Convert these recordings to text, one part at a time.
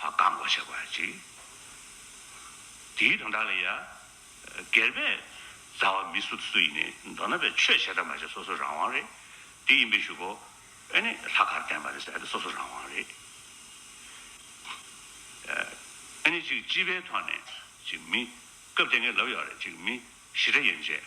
བཀག་འགོག་བྱེད་པ་གཅིག། དེའི་དོན་དག་ལ་ཡང། སྒེར་པས་མཛའ་བ་མི་སུ་སུ་ཡིན་ནས་མདོར་ན་པའི་ཆོས་བྱས་དང་མ་བྱས་སོ་སོ་རང་དབང་རེད། དེ་ཡིན་པས་ཞུ་གོ། ཨེ་ནས་ལྷག་གར་བསྟན་པ་རེད་ཟེར་ཏེ་སོ་སོ་རང་དབང་རེད། ཨེ་ནས་ཅིག་སྤྱི་པའི་ཐོག་ནས་ཅིག་མི། སྐབས་དེ་ངས་ལབ་ཡོད་རེད་ཅིག་མི། ཞི་དྲག་ཡན་ཆད།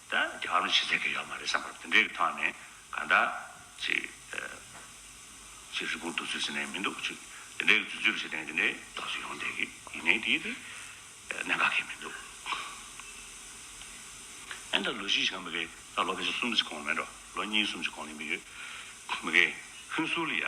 ད་རྒྱ་གར་ནས་ཕྱི་ཚེས་ཀྱི་ཡོད་མ་རེད་བསམ་པར་དེ་འདྲའི་གི་ཐོག་ནས་གང་ལྟར་ཅིག་ཅིག་རི་བོང་དུག་ཚོད་ཟེར་ནའི་མི་འདུག་ཅིག་དེ་འདྲའི་གི་ཚོད་ཚོད་བྱེད་དེ་དེ་འདྲའི་རྟགས་ཅིག་ཡོང་བསྡད་གི་ཡིན་ནའི་དེའི་དེ་གནད་འགག་གི་མི་འདུག་ཨན་ད་ལོ་གཞི་ཞིག་གམ་མི་གི་ད་ལོ་ག་ཚོད་གསུམ་གི་གོང་མེད་འགྲོ་ལོ་གཉིས་གསུམ་གི་གོང་ལས་མི་གི་མི་གི་ཧིན་སུ་ལི་ཡ།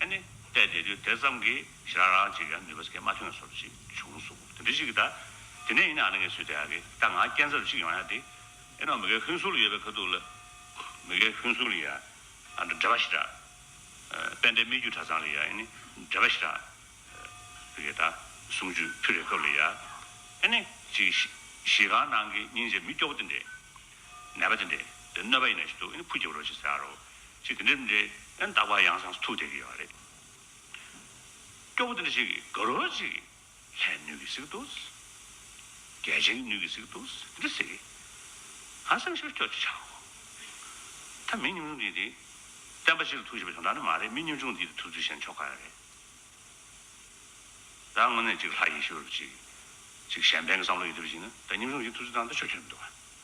ཨ་ནི། བལྟས་བསྡད་དུས་དེ་ཙམ་གྱི་ཞེ་རགས་རགས་ཅིག་ཡང་ནུས་པ་ཟེར་གྱི་མ་ཐོན་སོར་ཅིག་བྱུང་གསུང། དེ་འདྲི་ཞིག་གི་ད། དེ་ནས་ཡིན་ནའང་ངའི་ཚུལ་དེ་ཡག་གི་ད་ང་རྐྱེན་ཟབ་ཅིག་ཡོང་ཡག་དེ། ཨེ་ནོ་མི་ཁའི་ཧུན་སུར་ཡོད་པའི་ཁ་ཐུག་ལ། མི་ཁའི་ཧུན་སུར་ལ་ཡ། འདྲེ་བ་ཞིག་གྲགས། དཔལ་ལྡན་སྨད་རྒྱུད་གྲྭ་ཚང་ལ་ཡ་ཨེ་ནི། འདྲེ་བ་ཞིག་གྲགས། མི་ཁའི་ད། གསུམ་བཅུ་ཕུད་རེ་སྐབས་ལ་ཡ། ཨེ་ནི། ཅིག། གཞིས་ཁང་ནང་གི་སྙིང་རྗེ་མི་སྐྱོ་བོ་དེ་འདྲས། ནད་པ་དེ་འདྲས། དེ་གནོད་པ་ཡིན་ན་ཞིག་འདུག་ཨེ་ནི་ཕུ་རྒྱབ་རོགས་ཞིག་ཟེར་ཡག་རོགས། ཅིག་དེ་འདྲའི་འདྲའི་ཨན་རྟག་པ་ཡང་ཟངས་སུ་ཐུག་བསྡད་ཀྱི་ཡོད་པ་རེད། སྐྱོ་པོ་དེ་འདྲ་ཞིག་གིས་དགའ་རོགས་ཅིག་ལྷའི་སྣོད་ཀྱི་སིག་ཏུ། རྒྱལ་ཆེན་གྱི་སྣོད་ཀྱི་སིག་ཏུ་དེ་འདྲ་ཟེར་གི། ང་སེམས་ཤུགས་སྐྱོ་ཅིག་ཆགས་གོ། ད་མི་ཉུང་ཆུང་འདི་འདི། བསྟན་པ་སྤྱི་ལ་ཐུག་བྱེད་པ་བྱུང་ད་ནི་མ་རེད་མི་ཉུང་ཆུང་འདི་འདི་ཐུག་ཚུལ་ཤེས་ན་ཆོག་ག་ཡང་རེད། ད་དངོས་གནས་ཅིག་ལྷ་ཡེ་ཤུ་རུ་ཅིག། ཅིག་གཞན་ཕན་གྱི་བསམ་བློ་ཡོད་དུས་ལ་ཞིག་ན་ད་ཉུང་ཆུང་ཞིག་ཐུག་ཚུལ་ད་ནི་ད་ཆོས་ཆོས་མི་འདུག་ག།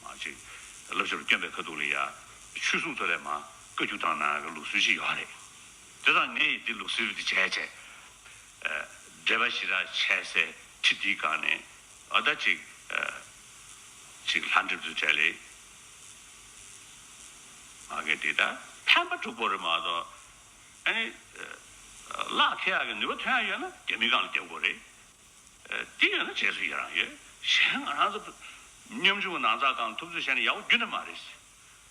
མ་གཅིག། བསླབ་བྱ་རུ་བསྐྱོན་པའི་ཁ་ཐུག་ལ་ཡ། ཆོས་གསུང་ཐོས་པའི་མ། བཀའ་རྒྱུད་དང་ནང་གི་ལུགས་སྲོལ་ཅི་ཡོད་ཨ་རེད། དེ་དང་ངས་ཡི་འདི་ལུགས་སྲོལ་འདི་བྱས་བྱས། འགྲེལ་པ་ཞི་དྲག་བྱས་སའི་ཁྲི་འདིའི་སྒང་ནས། ཨ་ད་ཅིག། ཅིག་ལྷ་འདྲེ་བརྫུས་བྲལ་ལེ། མ་གེ་འདི་ད་ཕན་པ་དྲུག་པོ་རེད་མ་གཏོགས། ཨ་ནི། བླ་ཁེ་ཡག་གི་ནུས་པ་དོན་ཡག་ཡོད་ན་རྒྱ་མི་སྒང་ལ་རྒྱབ་དགོས་རེད། དེ་ཡོད་ན་བྱེད་སྲོལ་ཡི་རང་ཡོད། གཞན་ང་རང་ཚོ། སྙོམས་འཇུག་ནང་ཚགས་ཁང་ཐུབ་ཚོད་བྱས་ནས་ཡག་པོ་རྒྱུ་ནི་མ་རེད།